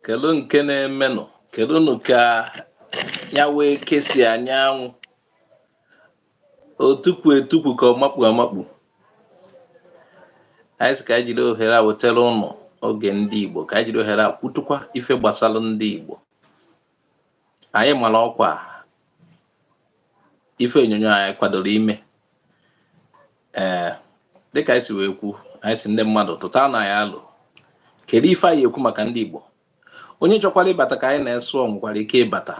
kedu nke na-emenụ kedu nụ ka ya wee kesi anyanwụ o tukwu etukwu ka ọ makpu amakpu anyị sị ka anyị jiri ohere a wetara unu oge ndị Igbo ka anyị jiri ohere a kwutukwa ife gbasara ndị Igbo anyị mara ọkwa ife onyonyo anyị kwadoro ime ee dịka anyị si wee kwu anyị sị ndị mmadụ tụtanụ anyị alo kedu ife anyị ya-ekwu maka ndị Igbo onye chọkwara ịbata ka anyị na-esụ nwekwara ike ịbata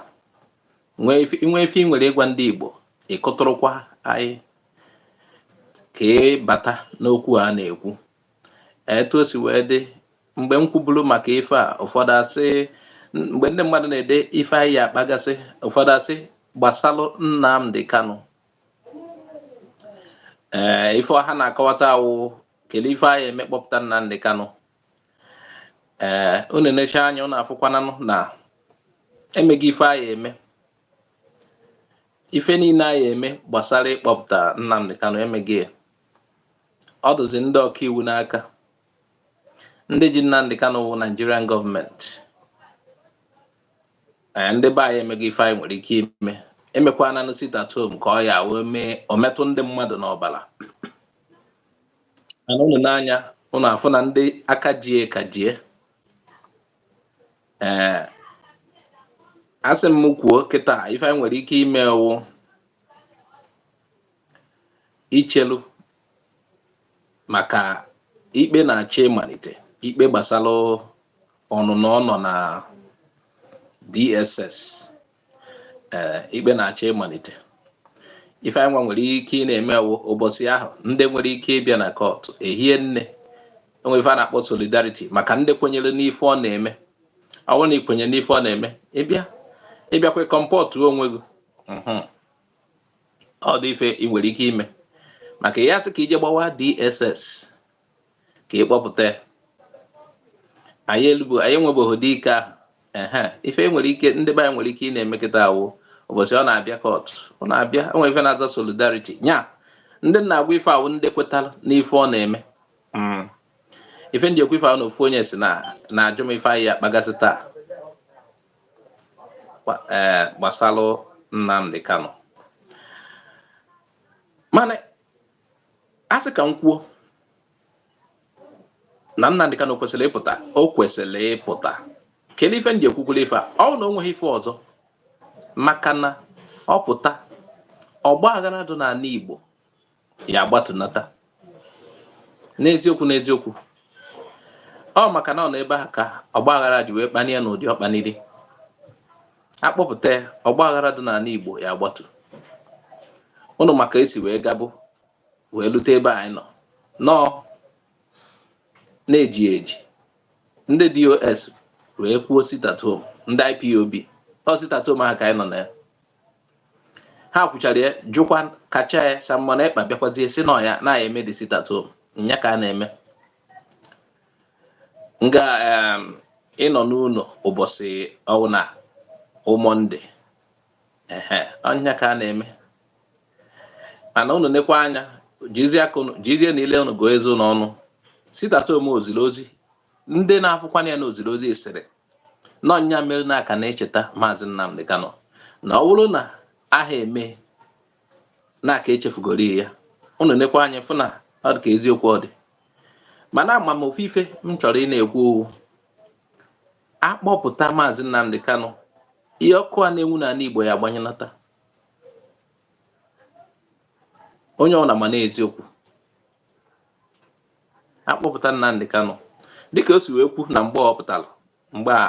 i nwee ife i nwere ịgwa ndị Igbo ị kụtụrụkwa anyị ka ị bata n'okwu a na-ekwu etu o si wee dị mgbe m kwuburu maka ife a ụfọdụ asị mgbe ndị mmadụ na-ede ife anyị ya-akpagasị ụfọdụ asị gbasalụ Nnamdi Kanu ee eh, ife ha na-akọwata wụ kedu ife anyị ya-eme kpọpụta Nnamdi Kanu ee eh, unu nechaa anya unu afụkwananụ na emego ife anyị ya-eme ife niile anyị ya-eme gbasara ịkpọpụta Nnamdi Kanu emego ya ọ dụzi ndị ọkaiwu n'aka ndị ji Nnamdi Kanu wụ Nigerian gọọmenti ee ndị be anyị emego ife anyị nwere ike ime emekwananụ sit at home ka ọ ya wee mee o metụ ndị mmadụ n'ọbara mana unu nee anya unu afụ na ndị a ka ji ya ka ji ya ee a sị m kwuo kịtaa ife anyị nwere ike ime wụ ichelu maka ikpe na-achọ ịmalite ikpe gbasara ọnụnọ ọ nọ na DSS ee eh, ikpe na-achọ ịmalite ife anyị nwa nwere ike ịna-eme wụ ụbọchị ahụ ndị nwere ike ịbịa na kọtụ ehie nne e nwee ife a na-akpọ solidarity maka ndị kwenyere n'ife ọ na-eme ọ bụrụ na i kwenyere n'ife ọ na-eme ị bịa ị bịakwa ị kọmpọtụ onwe gị mhm. ọ dị ife i nwere ike ime maka ị ya-asị ka i je gbawaa DSS ka ị kpọpụta ya anyị elubo anyị enwebeghị ụdị ike ahụ ehe ife e nwere ike ndị be anyị nwere ike ịna-eme kịtaa wụ ụbọchị ọ na-abịa kọt ọ na-abịa e nwee ife na-aza solidarity nya ndị m na-agwa ife a wụ ndị kwetara n'ife ọ na-eme hmm. ife m ji ekwu ife a wụ na ofu onye sị na na-ajụ m ife anyị ya-akpagasị taa eh, gbasalụ Nnamdi Kanu mana a sị ka m kwuo na Nnamdi Kanu kwesịrị ịpụta o kwesịrị ịpụta kedu ife m ji ekwukwulu ife a ọ wụ na o nweghị ife ọzọ maka na ọ pụta ọgba aghara dụ n'anị Igbo ya agbatunata n'eziokwu n'eziokwu ọ maka na ọ nọ ebe ahụ ka ọgbaghara ji wee kpanie n'ụdị ọ kpaniri a kpọpụta ya ọgbaghara dị n'ala Igbo ya agbatu unu ma ka e si wee gabụ wee lute ebe anyị nọ nọọ na e ji eji ndị DOS wee kwuo sit at home ndị IPOB ọ sit at home ahụ ka anyị nọ na ya ha kwuchara ya jụkwa kachaa ya Simon Ekpa bịakwazie sị na ọ ya na ya eme the sit at home nya ka a na-eme nga ịnọ n'ụlọ ụbọchị ọwụna Monday ehe ọ nya ka a na-eme mana unu nekwa anya jizienụ ile unu gụọ eze unu ọnụ sit at home o ziri ozi ndị na-afụkwana ya na o ziri ozi sịrị na ọ nya mere na a ka na-echeta maazị Nnamdi Kanu na ọ bụrụ na aha eme na a ka echefugori ya unu nekwa anya fụ na ọ dị ka eziokwu ọ dị mana ama m ofu ife m chọrọ ị na-ekwu ọ wụ a kpọpụta maazị Nnamdi Kanu ihe ọkụ a na-enwu n'ala Igbo ya agbanyụnata onye ọbụla ma na eziokwu a kpọpụta Nnamdi Kanu dịka o si wee kwuo na mgbe ọ pụtara mgbe a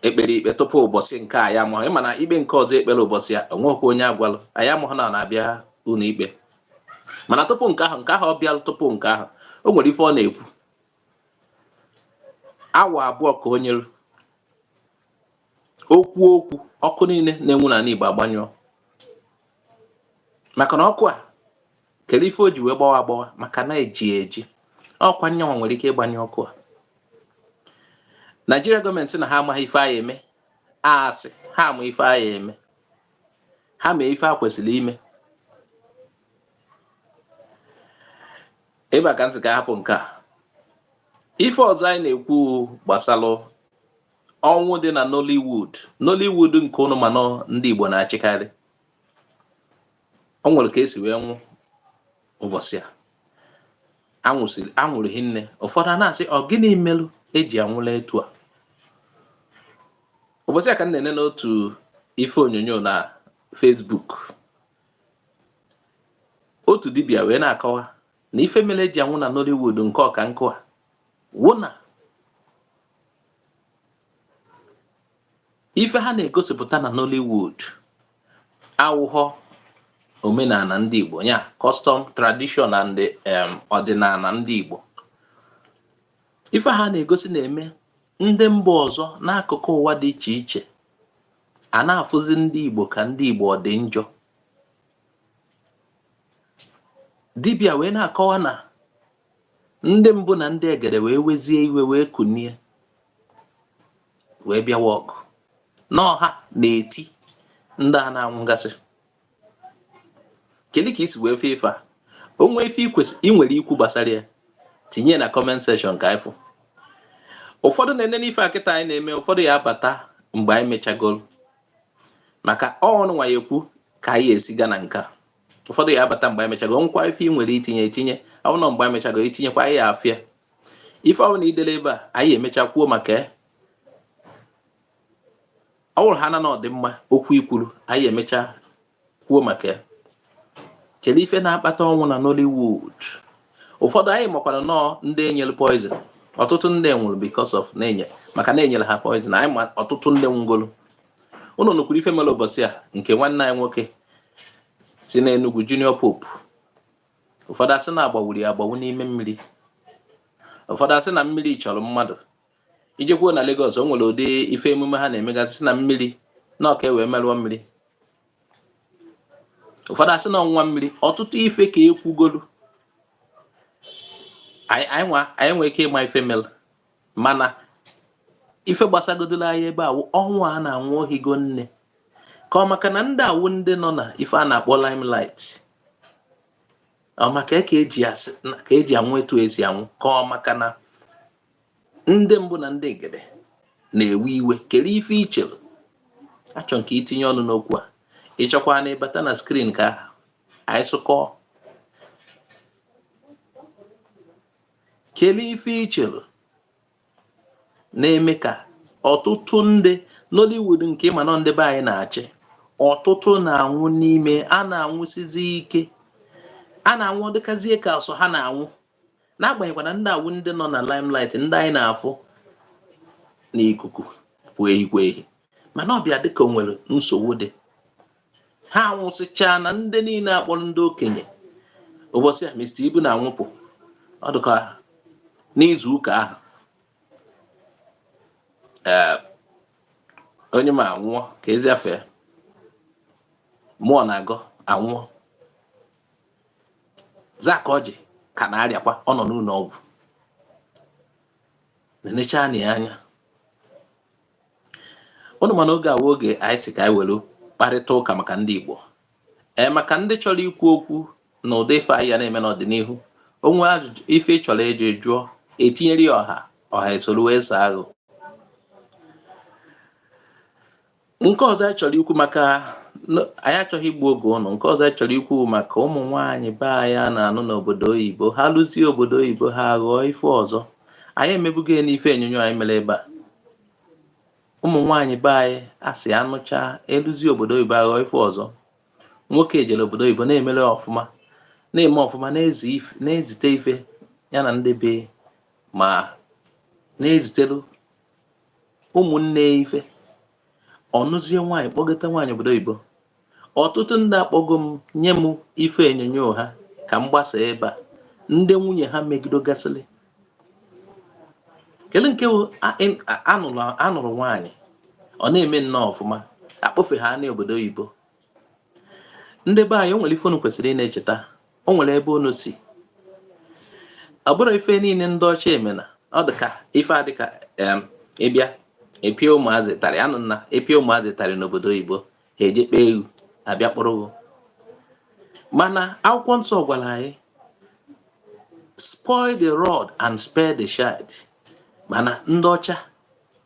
e kpere ikpe tupu ụbọchị nke a anyị amaghị mana ikpe nke ọzọ e kpere ụbọchị a o nwekwa onye a gwalụ anyị amaghị na ọ na-abịa ụlọ ikpe mana tupu nke ahụ nke ahụ ọ bịalụ tupu nke ahụ o nwere ife ọ na-ekwu awa abụọ ka o nyere o kwuo okwu ọkụ niile na-enwu n'ala Igbo agbanyụọ maka na ọkụ a kedu ife o ji wee gbawa agbawa maka na e ji eji ọ kwa nyanwa nwere ike ịgbanyụ ọkụ a Naịjiria gọọmenti na ha amaghị ife ha ya-eme a sị ha ma ife ha ya-eme ha mee ife e kwesịrị ime ebe a ka m sị ka a hapụ nke a ife ọzọ anyị na-ekwu gbasara ọnwụ dị na Nollywood Nollywood nke unu ma na ọ ndị Igbo na-achịkarị o nwere ka e si wee nwụ ụbọchị a a nwụrụ hinne ụfọdụ a na-asị ọ gịnị merụ e ji anwụla etu a ụbọchị a ka m na-ene n'otu ife onyonyo na Facebook otu dibịa wee na-akọwa na ife mere e ji anwụ na Nollywood nke ọ ka nke a wụ na ife ha na-egosipụta na Nollywood awụghọ omenala ndị Igbo ya custom tradition and um, ọdịnala ndị Igbo ife ha na-egosi na-eme ndị mba ọzọ n'akụkụ ụwa dị iche iche a na-afụzi ndị Igbo ka ndị Igbo ọ dị njọ dibịa wee na-akọwa na ndị mbụ na ndị egede wee wezie iwe wee kunie wee bịawa ọgụ na ọ ha na-eti ndị a na-anwụgasị kedu ka isi wee fụ ife a o nwee ife ị nwere ikwu gbasara ya tinye na comment section ka ifụ ụfọdụ na-enene ife a kịta anyị na-eme ụfọdụ ya abata mgbe anyị mechagoro maka ọ ụnụ nwa ya ekwu ka anyị esi gaa na nke a ụfọdụ ya abata mgbe anyị mechago nkwa ife ị nwere itinye etinye ọ bụrụ na mgbe anyị mechago itinyekwa anyị ya afụ ya ife ọ wụna idele ebe a anyị emecha kwuo maka ya ọ bụrụ ha na na ọ dị mma okwu ikwuru anyị emecha kwuo maka ya kedu ife na-akpata ọnwụ na Nollywood ụfọdụ anyị makwara nọọ ndị enyere poison ọtụtụ ndị nwụrụ because of na-enye maka na enyere ha poison anyị ma ọtụtụ ndị nwụgoro ụnụ nụkwuru ife mere ụbọchị a nke nwanne anyị nwoke si n'Enugu Junior Pope ụfọdụ asị na agbawuru ya agbawu n'ime mmiri ụfọdụ asị na mmiri chọrọ mmadụ i jekwuo na Lagos o nwere ụdị ife emume ha na-emegasị sị na mmiri na ọ ka e wee merụọ mmiri ụfọdụ asị na ọ wụ nwa mmiri ọtụtụ ife ka ekwugolu anyị nwee ike ịma ife mere mana ife gbasagodoro anyị ebe a wụ ọnwụ a na-anwụ o higo nne ka ọ maka na ndị a wụ ndị nọ na ife a na-akpọ limelight ọ maka e ka eji asị ka eji anwụ etu esi anwụ ka ọ maka na ndị mbụ na ndị egede na-ewe iwe kere ife ichere achọ m ka itinye ọnụ n'okwu a ịchọkwa na ịbata na screen ka anyị sụkọọ kelee ife ichere na-eme ka ọtụtụ ndị Nollywood nke ịma na ọ ndị be anyị na-achị ọtụtụ na-anwụ n'ime a na-anwụsizi ike a na-anwụ ọ dịkazie ka ọsọ ha na-anwụ n'agbanyeghịkwa na ndị a wụ ndị nọ na limelight ndị anyị na-afụ n'ikuku pụọ ehikwa ehi mana ọ bịa dịka o nwere nsogbu dị ha anwụsịchaana ndị niile akpọrọ ndị okenye ụbọchị a Mr. Ibu na-anwụpụ ọ dịka n'izu ụka ahụ eh, onye ma anwụọ ka ezi afa ya Muonagor anwụọ Zack Orji ka na-arịakwa ọ nọ n'ụlọ ọgwụ na-enecha anya ụnụ ma na oge a wụ oge anyị sị ka anyị were kparịta ụka maka ndị Igbo ee eh, maka ndị chọrọ ikwu okwu na ụdị ife anyị ya na-eme n'ọdịnihu o nwee ajụjụ ife ị chọrọ eji jụọ e tinyere ya ọha ọha esoro wee saa gị nke ọzọ anyị chọrọ ikwu maka anyị achọghị igbu oge ụnụ nke ọzọ anyị chọrọ ikwu maka ụmụ nwaanyị be anyị a na-anụ n'obodo oyibo ha luzie obodo oyibo ha ghọọ ife ọzọ anyị emebugo ya n'ife onyonyo anyị mere ebe a ụmụ nwaanyị be anyị a sị a nụchaa eluzie obodo oyibo aghọọ ife ọzọ nwoke ejere obodo oyibo na-emere ọfụma na-eme ọfụma na-ezite ife ya na ndị be ma na-ezitelu ụmụnne ife ọ nụzie nwaanyị kpọgota nwaanyị obodo oyibo ọtụtụ ndị akpọgo m nye m ife onyonyo ha ka m gbasa ebe a ndị nwunye ha megidogasịrị kedu nke a nụrụ nwaanyị ọ na-eme nnọọ ọfụma akpọfe ha n'obodo oyibo ndị be anyị o nwere ife unu kwesịrị ị na-echeta o nwere ebe unu si ọ bụrụ ife niile ndị ọcha emena ọ dị ka ife a dịka ịbịa epie ụmụazị ụtarị a nụ na e pie ụmụazị ụtarị n'obodo oyibo ha eje kpee gị a bịa kpọrọ gị mana akwụkwọ nsọ gwara anyị spoil the rod and spare the child mana ndị ọcha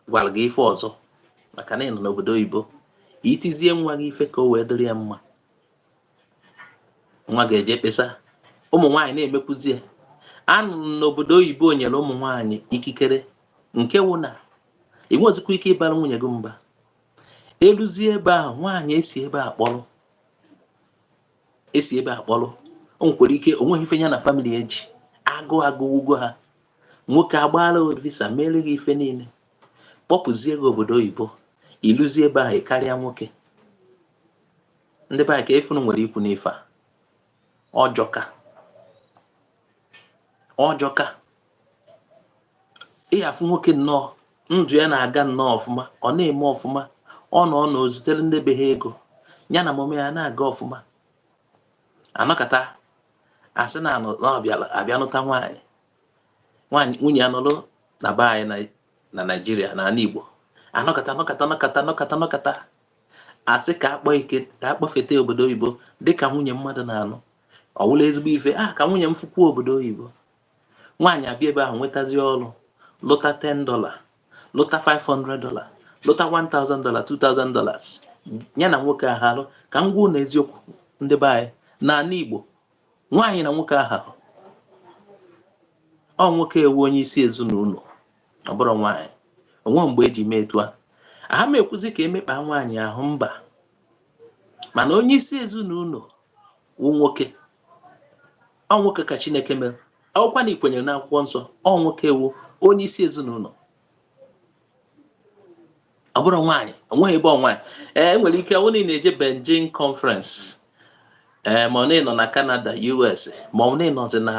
gwara gị ife ọzọ maka na ị nọ n'obodo oyibo itizie nwa gị ife ka o wee dịrị ya mma nwa gị eje kpesa ụmụ nwaanyị na-emekwuzie a nụ na obodo oyibo nyere ụmụ nwaanyị ikikere nke wụ na i nwezikwa ike ịbara nwunye gị mba eluzie ebe ahụ nwaanyị e si ebe a kpọrọ e si ebe a kpọrọ o nwekwara ike o nweghị ife ya na family eji agụụ agụwugo ha nwoke agbaala visa mere gị ife niile kpọpụzie gị obodo oyibo i luzie ebe ahụ karịa nwoke ndị be anyị ke ife unu nwere ikwu n'ife a ọ jọka ọ jọka ị ga-afụ nwoke nnọọ ndụ ya na-aga nnọọ ọfụma ọ na-eme ọfụma ọ nọ ọ na-ezitere ndị be ha ego ya na ụmụnne ya na-aga ọfụma anọkata asị na a bịa nụta nwaanyị nwaanyị nwunye ya nọrọ na be anyị na naijiria na ala igbo anọkata asị ka a kpọfeta obodo oyibo dịka nwunye mmadụ na-anụ ọ wụla ezigbo ife a ah, ka nwunye m fụkwuo obodo oyibo nwaanyị abịa ebe ahụ nwetazie ọrụ lụta 10 dọla lụta 500 dọla lụta 1000 dọla 2000 dollars ya na nwoke ahalụ ka m gwa ụnụ eziokwu ndị be anyị n'ala Igbo nwaanyị na nwoke aharọ ọ nwoke wụ onye isi ezinụlọ ọ bụrọ nwaanyị onwe mgbe eji mee etu a aha m ekwuzi ka emekpaa nwaanyị ahụ mba mana onye isi ezinụlọ wụ nwoke ọ nwoke ka chineke mere ọ wụkwa na ikwenyere n'akwụkwọ nsọ ọ nwoke wụ onye isi ezinụlọ ọ bụrọ nwaanyị onweghị ebe nwaanyị ee eh, enwere ike ọ wụ na ị na-eje Beijing conference ee eh, ma ọ na ị nọ na canada us ma ọ wụ na ị nọzi na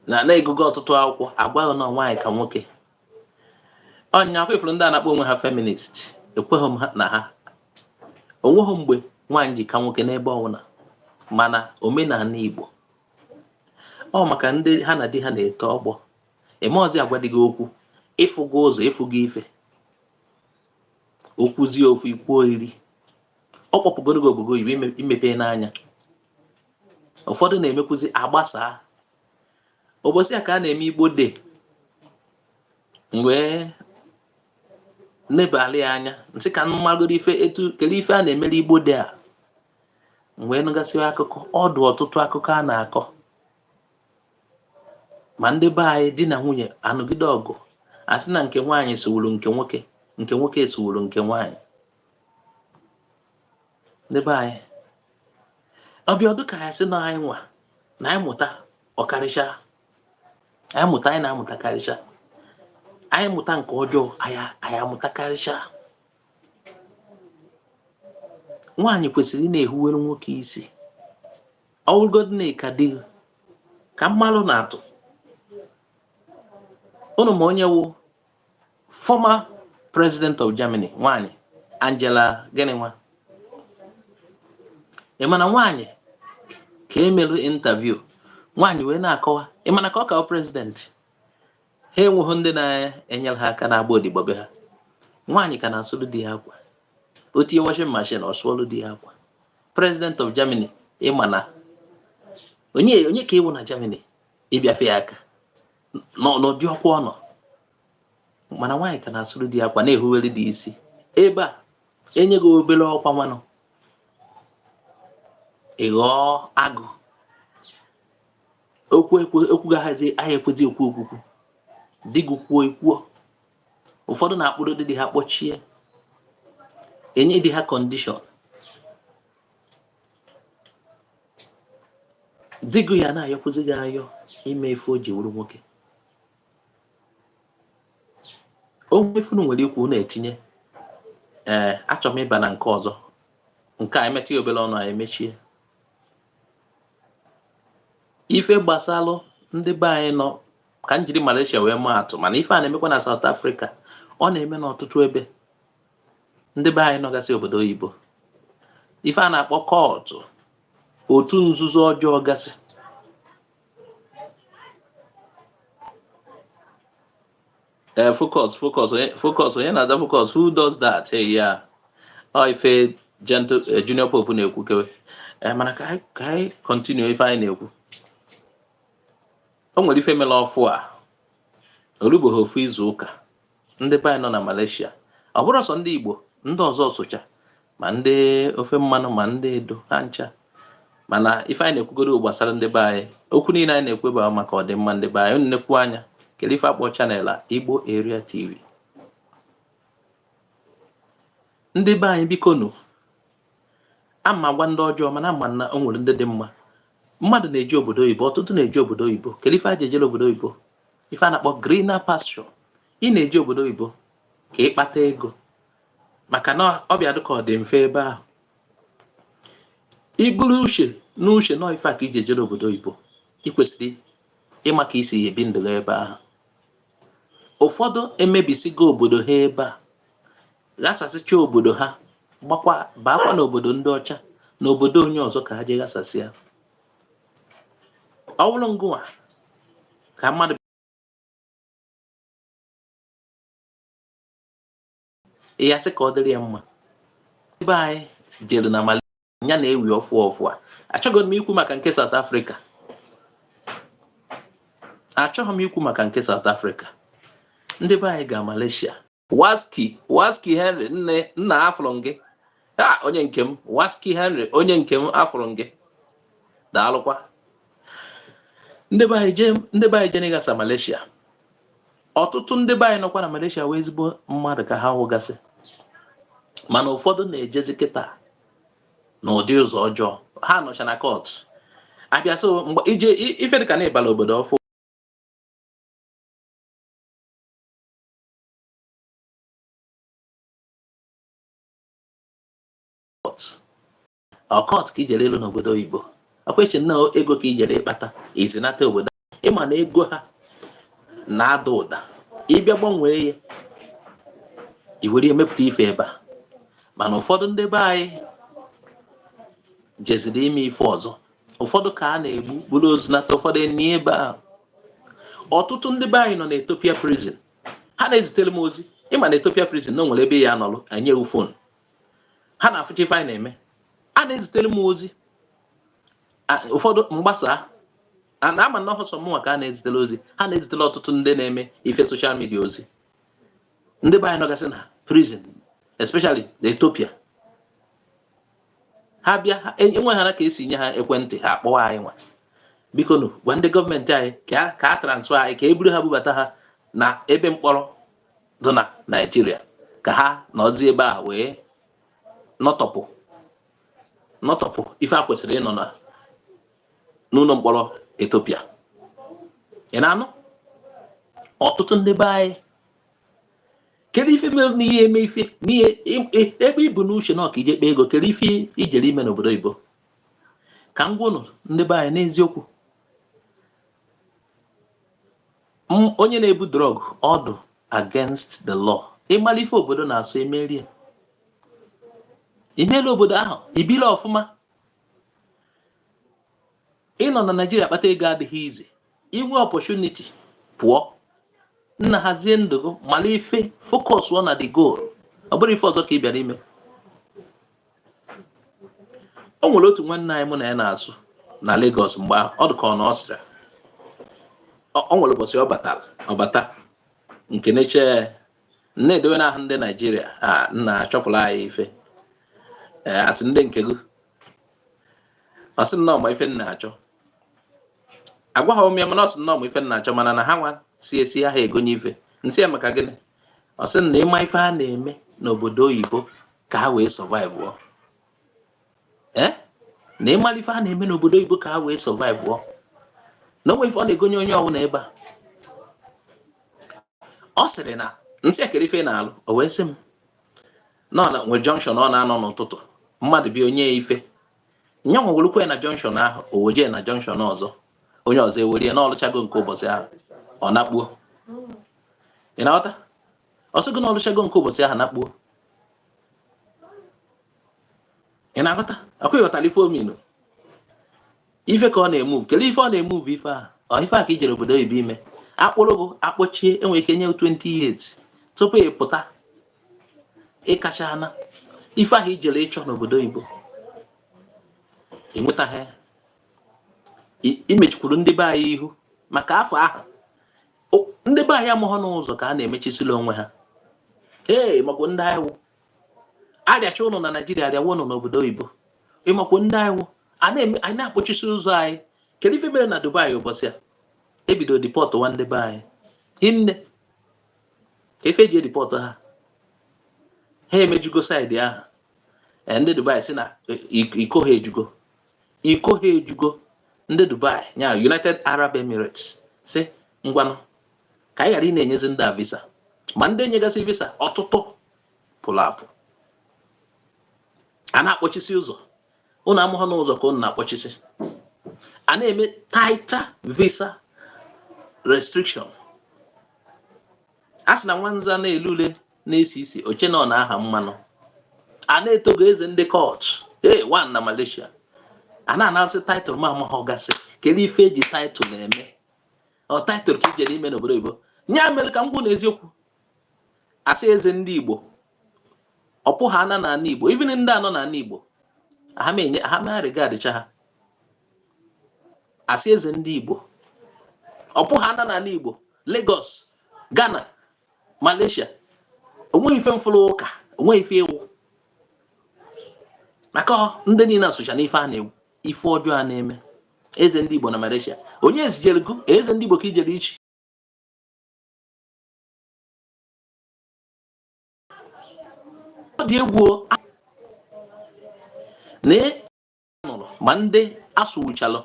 na na ị gụgo ọtụtụ akwụkwọ agwaghị na nwaanyị ka nwoke ọ nya kwa ifuru ndị a na-akpọ onwe ha feminist ekweghị m na ha onweghị mgbe nwaanyị ji ka nwoke n'ebe ọbụla mana omenala Igbo ọ maka ndị ha na di ha na-eto ọgbọ eme ọzi agwa di gị okwu ịfụgo ụzọ ịfụgo ife okwuzie ofu ikwuo iri ọ kpọpụgoro gị obodo oyibo imepena anya ụfọdụ na-emekwuzi agbasaa ụbọchị a ka a na-eme Igbo Day wee nebali ya anya m sị ka m magoro ife etu kele ife a na-emere Igbo Day a wee nụgasị akụkọ ọ dụ ọtụtụ akụkọ a na-akọ ma ndị be anyị di na nwunye anụgide ọgụ asị na nke nwaanyị suuru nke nwoke nke nwoke suuru nke nwaanyị ndị be anyị ọ bịa dụ ka ya sị na anyị nwa na anyị mụta ọ karịcha anyị mụta anyị na-amụta karịcha anyị mụta nke ọjọọ anyị amụta karịcha nwaanyị kwesịrị ị na-ehuwere nwoke isi ọwụrụgodị na ịka di ka m maalụ ụnụ atụ ụnụ ma onye wụ former president of Germany nwanyị Angela gịnị nwa ịma na nwanyị ka emere interview nwanyị wee na-akọwa ịma na ka ọ ka wụ president ha enweghị ndị na-enyere ha aka na-agba odibo be ha nwaanyị ka na-asụrụ di ya akwa o tinye washing machine ọ sụọlụ di ya akwa president of Germany ịma na onye onye ka ịwụ na Germany ịbịafe ya aka n'ụdị ọkwa ọ nọ mana nwaanyị ka na-asụrụ di akwa na-ehuwere di isi ebe a enye gị obere ọkwa nwanụ ị ghọọ agụ okwu okwu gị aha ekwezi ekwu okwukwu di gị kwuo ikwuo ụfọdụ na-akpụrụ di di ha kpọchie enye di ha kọndishọn di gị ya na-ayọkwụzi gị ayọ ime ife o ji wuru nwoke o nwee ife unu nwere ikwu na-etinye ee eh, achọrọ m ịba na nke ọzọ nke a emetụ ya obere ọnụ anyị emechie ife gbasalụ ndị be anyị nọ ka m jiri Malaysia wee maa atụ mana ife a na-emekwa na South Africa ọ na-eme n'ọtụtụ ebe ndị be anyị nọgasị obodo oyibo ife a na-akpọ cult otu nzuzo ọjọọ gasị ee focus focus focus onye na-aza focus who does that hey ya ọ ife gentle eh, junior pope na-ekwu kewe eh, mana ka anyị continue ife anyị na-ekwu o nwere ife mere ọfụ a olugboghị ofu izu ụka ndị be anyị nọ na Malaysia ọ bụrọ sọ ndị Igbo ndị ọzọ socha ma ndị ofe mmanụ ma ndị edo ha ncha mana ife anyị na-ekwugodu gbasara ndị be anyị okwu niile anyị na-ekwu bụ maka ọdịmma ndị be anyị unu nekwa anya kedu ife a kpọ channel a Igbo Area TV ndị be anyị biko nụ ama gwa ndị ọjọọ mana ama na o nwere ndị dị mma mmadụ na-eje obodo oyibo ọtụtụ na-eje obodo oyibo kedu ife a ji ejere obodo oyibo ife a na-akpọ greener pasture ị na-eje obodo oyibo ka ị kpata ego maka na ọ bịa dịka ọ dị mfe ebe ahụ i buru uche n'uche na ọ ife a ka i ji ejere obodo oyibo ị kwesịrị ịma ka i si ebi ndụ ebe ahụ ụfọdụ emebisigo obodo ha ebe a ghasasịcha obodo ha gbakwa baakwa n'obodo ndị ọcha na obodo onye ọzọ ka ha jee ghasasịa ọ bụrụ ngịnwa ka mmadụ ya sị ka ọ dịrị ya mma ndị be anyị jere na Malaysia na-ewi ọfụ ọfụ a achọghị m ikwu maka nke South Africa achọghị m ikwu maka nke South Africa ndị be anyị ga Malaysia waski waski henry nne nna afụrụ m gị ha onye nke m waski henry onye nke m afụrụ m gị daalụkwa ndị be anyị jee ndị be anyị jee n'ịghasa Malaysia ọtụtụ ndị be anyị nọkwa na Malaysia wee ezigbo mmadụ ka ha wụgasị mana ụfọdụ na-ejezi kịtaa n'ụdị ụzọ ọjọọ ha nọcha na cult a bịa so mgbe ije ife dịka na ị bala obodo ọfụ ọ cult ka ijere elu n'obodo oyibo akwechi na ego ka ijere ịkpata izinata obodo ịma na ego ha na-ada ụda ịbịa gbanwee ya iwere ya mepụta ife ebe a mana ụfọdụ ndị be anyị jeziri ime ife ọzọ ụfọdụ ka a na-egbu buru ozu nata ụfọdụ enie ebe ahụ ọtụtụ ndị be anyị nọ na Ethiopia prison ha na-ezitere m ozi ịma na Ethiopia prison na o nwere ebe ya nọrọ enye gị phone ha na-afụcha ife anyị na-eme a na-ezitere m ozi ụfọdụ m gbasaa na ama m na ọhọ sọ mụnwa ka a na-ezitere ozi ha na-ezitere ọtụtụ ndị na-eme ife social media ozi ndị be anyị nọgasị na prison especially na Ethiopia ha bịa enwe ha na ka esi nye ha ekwentị ha akpọwa anyị nwa biko nụ gwa ndị gọọmenti anyị ka a transfer anyị ka e buru ha bubata ha na ebe mkpọrọ dị na naijiria ka ha nọzi ebe a wee nọtọpụ nọtọpụ ife ha kwesịrị ịnọ n'ụlọ mkpọrọ Ethiopia ị na-anụ ọtụtụ ndị be anyị kedu ife mere na ihe eme ife n'ihe ebe ibu n'uche na ọ ka ije kpee ego kedu ife ijere ime n'obodo oyibo ka m gwa ụnụ ndị be anyị n'eziokwu onye na-ebu drug ọ dụ against the law ịmara ife obodo na-asọ emeri ya imela obodo ahụ ibila ọfụma ịnọ na naijiria kpata ego adịghị easy inwe opportunity pụọ nna hazie ndụ gị mara ife focus ọ na the goal ọ bụrụ ife ọzọ ka ị bịara ime o nwere otu nwanne anyị mụ na ya na-asụ na Lagos mgbe ọ dịka ọ na Austria ọ nwere ụbọchị ọ batara ọ bata nke neche na-edowe n'ahụ ndị naijiria a nna chọpụrụ anyị ife asị ndị nke gị ọ sị na ọ ma ife m na-achọ agwaghị m ya mana ọ sị na ọ ma ife m na-achọ mana na ha nwa si esi aha egonye ife m sị ya maka gịnị ọ sị na ịma ife ha na-eme n'obodo oyibo ka ha wee survive ọ eh? na ịmara ife ha na-eme n'obodo oyibo ka ha wee survive ọ na onwe ife ọ na-egonye onye ọbụla ebe a ọ sịrị na m sị ya kere ife na-alụ o wee sị m na o nwere junction ọ na-anọ n'ụtụtụ mmadụ bịa o nye ife nyanwa ewelukwa ya na junction ahụ o wejee na junction ọzọ onye ọzọ ewere ya n'ọlụchago nke ụbọchị ahụ ọ nakpuo ị na-aghọta ọ sị gị n'ọlụchago nke ụbọchị ahụ nakpuo ị na-aghọta akwa ịghọtara ife ọ mean ife ka ọ na-emove kedu ife ọ na-emove ife ahụ ọ ife a ka ijere obodo oyibo ime akpụrụ gị akpọchie enwere ike nye 20 years tupu ị pụta ịkacha ana ife ahụ ijere ịchọ n'obodo oyibo i nwetaghị imechikwuru ndị be anyị ihu maka afọ ahụ ndị be anyị amụghọ n'ụzọ ka a na-emechisila onwe ha ee ịmakwụ ndị anyị wụ arịacha ụnụ na naijiria arịawa ụnụ n'obodo oyibo ịmakwụ ndị anyị wụ anyị na-akpọchisi ụzọ anyị kedu ife mere na dubai ụbọchị a ebido deportụwa ndị be anyị hinne ka ife e ji edeport ha ha emejugo side ahụ eh, ndị dubai si na eh, iko ha ejugo iko ha ejugo ndị dubai ya united arab emirates si ngwanụ ka anyị ghara ị na-enyezi ndị a visa ma ndị enyegasị visa ọtụtụ pụrụ apụ a na-akpọchisi ụzọ ụnụ amụghọ n'ụzọ ka ụnụ na-akpọchisi a na-eme tighter visa restriction a sị na nwanza na-ele ule na-esi isi o chee na ọ na-aha mmanụ a na-etogo eze ndị court ee one na Malaysia a na-anasị title ma amaghị gasị kedu ife eji title na-eme ọ title ka ijere ime n'obodo oyibo nya mere ka m gwa ụnụ eziokwu asị eze ndị Igbo ọpụ ha ana na ana Igbo even ndị a nọ na ana Igbo ha ma enye ha ma arịga adịcha ha asị eze ndị igbo ọ bụghị ana n'ala igbo Lagos Ghana Malaysia onweghị ife m fụrụ ụka onweghị ife ị wụ maka ndị niile a socha n'ife a na-ekwu ife ọjọọ a na-eme eze ndị igbo na Malaysia onye zijere gị eze ndị igbo ka ijere ichi ọ dị egwu na nụrụ ma ndị asụwụchalụ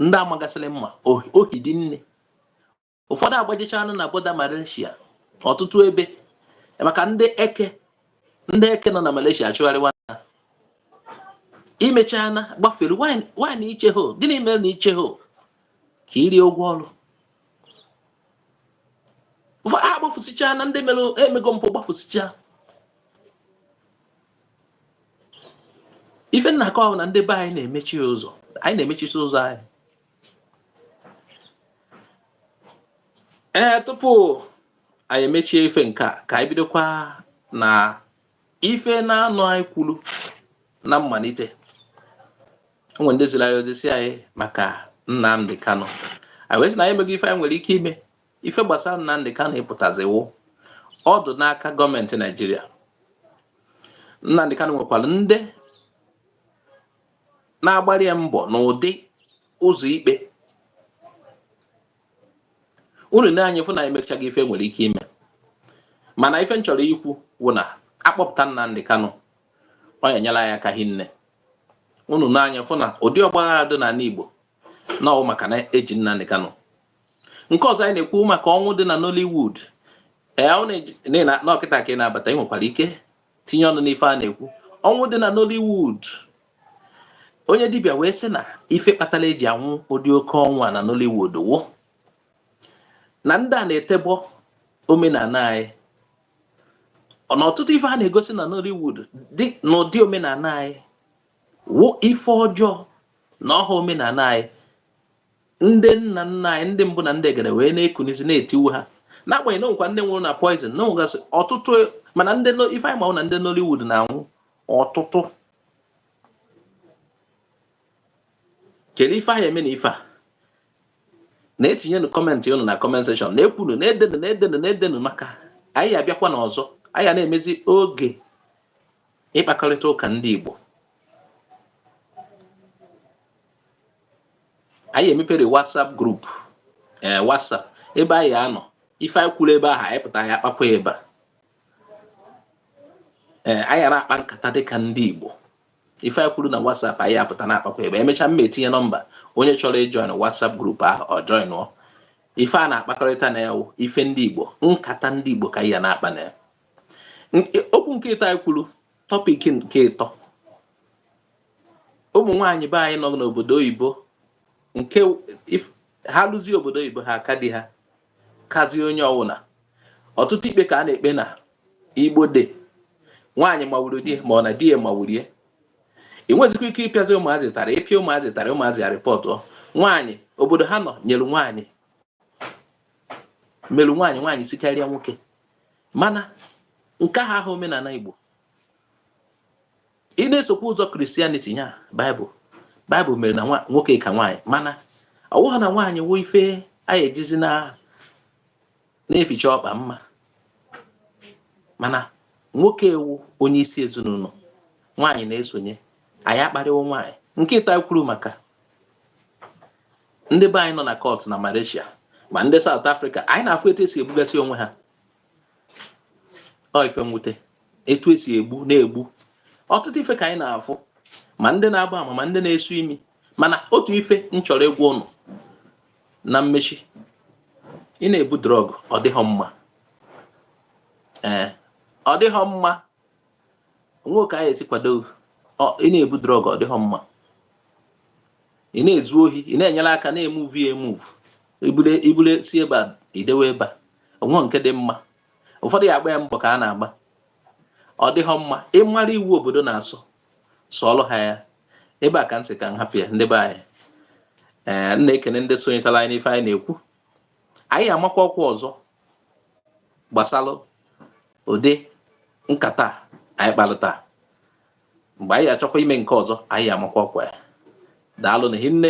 ndị amagasịrị mma o hiri nne ụfọdụ agbajichaana na border Malaysia ọtụtụ ebe maka ndị eke ndị eke nọ na Malaysia achụgharịwa na imechaa na gbafere wine iche ho gịnị mere na iche ho ka irie ụgwọ ọrụ ụfọdụ agbafusichaana ndị mere emego mpụ gbafusichaa ife m na-akọ wụ na ndị be anyị na-emechi ụzọ anyị na-emechisi ụzọ anyị ee tupu anyị emechie ife nke a ka anyị bidokwa na ife naanọ anyị kwuru na mmalite o nwere ndị ziri anyị ozi sị anyị maka Nnamdi Kanu anyị wee sị na anyị emeghị ife anyị nwere ike ime ife gbasara Nnamdi Kanu ịpụtaziwo ọ dụ n'aka gọọmenti Naijiria Nnamdi Kanu nwekwara ndị na-agbara ya mbọ n'ụdị ụzọ ikpe unu na-anya fụ na emechaghị ife nwere ike ime mana ife m chọrọ ikwu wụ na a kpọpụta Nnamdi Kanu ọ ya-enyela anyị aka hinne unu na-anya fụ na ụdị ọgbaghara dị n'ala Igbo na ọ wụ maka na e ji Nnamdi Kanu nke ọzọ anyị na-ekwu maka ọnwụ dị na Nollywood ee na ọ kịta ka ị na-abata ị nwekwara ike tinye ọnụ n'ife a na-ekwu ọnwụ dị na Nollywood onye dibịa wee sị na ife kpatara e ji anwụ ụdị oke ọnwụ a na Nollywood wụ na ndị a na-etebọ omenala anyị na ọtụtụ ife a na-egosi na Nollywood dị n'ụdị omenala anyị wụ ife ọjọọ na ọ ha omenala anyị ndị nna nna anyị ndị mbụ na ndị egede wee na-ekunizi na-etiwu ha n'agbanyeghị na o nwekwa ndị nwụrụ na poizin na o nwegasị ọtụtụ mana ndị ife anyị ma wụ na ndị Nollywood na-anwụ ọtụtụ kedu ife a ya-eme na ife a na-etinyenu kọmentị unu na kọment sekshọn na-ekwunu na-edenu na-edenu na-edenu maka anyị abịakwa n'ọzọ anyị ya na-emezi oge ịkpakọrịta ụka ndị Igbo anyị emepere WhatsApp group ee WhatsApp ebe anyị ya-anọ ife anyị kwuru ebe ahụ anyị pụta anyị akpakwa ebe a ee anyị ya na-akpa nkata dịka ndị Igbo ife anyị kwuru na WhatsApp anyị apụta na-akpakwa ebe e mechaa m ma etinye nọmba onye chọrọ ịjoin WhatsApp group ahụ ọ joinụọ ife a na-akpakọrịta na ya wụ ife ndị Igbo nkata ndị Igbo ka a ya na-akpa na ya okwu nke ịtọ anyị kwuru tọpik nke ịtọ ụmụ nwaanyị be anyị nọ n'obodo oyibo nke ha luzie obodo oyibo ha aka di ha kazie onye ọ wụla ọtụtụ ikpe ka a na-ekpe na igbo de nwaanyị mawuru di ma ọ na di ya mawuru ya ị nwezikwa ike ịpịazi ụmụazị ụtarị ị pịa ụmụazị ụtarị ụmụazị ya rịpọtụ nwaanyị obodo ha nọ nyere nwaanyị mere nwaanyị nwaanyị sikarịa nwoke mana nke ahụ aha omenala igbo ị na-esokwa ụzọ Christianity ya baịbụl baịbụl mere na nwoke ka nwaanyị mana ọ bụghị na nwaanyị wụ ife anyị ejizi na na-eficha ọkpa mma mana nwoke ewu onye isi ezinụlọ nwaanyị na-esonye anyị akparịwo nwaanyị nke ịtọ kwuru maka ndị be anyị nọ na cult na Malaysia ma ndị South Africa anyị na-afụ etu esi egbugasị onwe ha ọ ife mwute etu esi egbu na-egbu ọtụtụ ife ka anyị na-afụ ma ndị na-agba ama ma ndị na-esu imi mana otu ife m chọrọ ịgwa ụnụ na mmechi ị na-ebu drug ọ dịghọ mma ee ọ dịghọ mma onwe ka anyị esi kwado ị na-ebu drug ọ dịghọ mma ị na-ezu ohi ị na-enyere aka na-emuvu ya emuvu ibule si ebe a idewe ebe a onwe nke dị mma ụfọdụ ya akpọ ya mbọ ka a na-agba ọ dịghọ mma ị mara iwu obodo na-asọ sọọlụ ha ya ebe a ka m sị ka m hapụ ya ndị be anyị ee m na-ekene ndị sonyetara anyị n'ife anyị na-ekwu anyị ya amakwa ọkwa ọzọ gbasara ụdị nkata a anyị kpalụ taa mgbe anyị ya achọkwa ime nke ọzọ anyị ya amakwa ọkwa ya daalụnụ hinne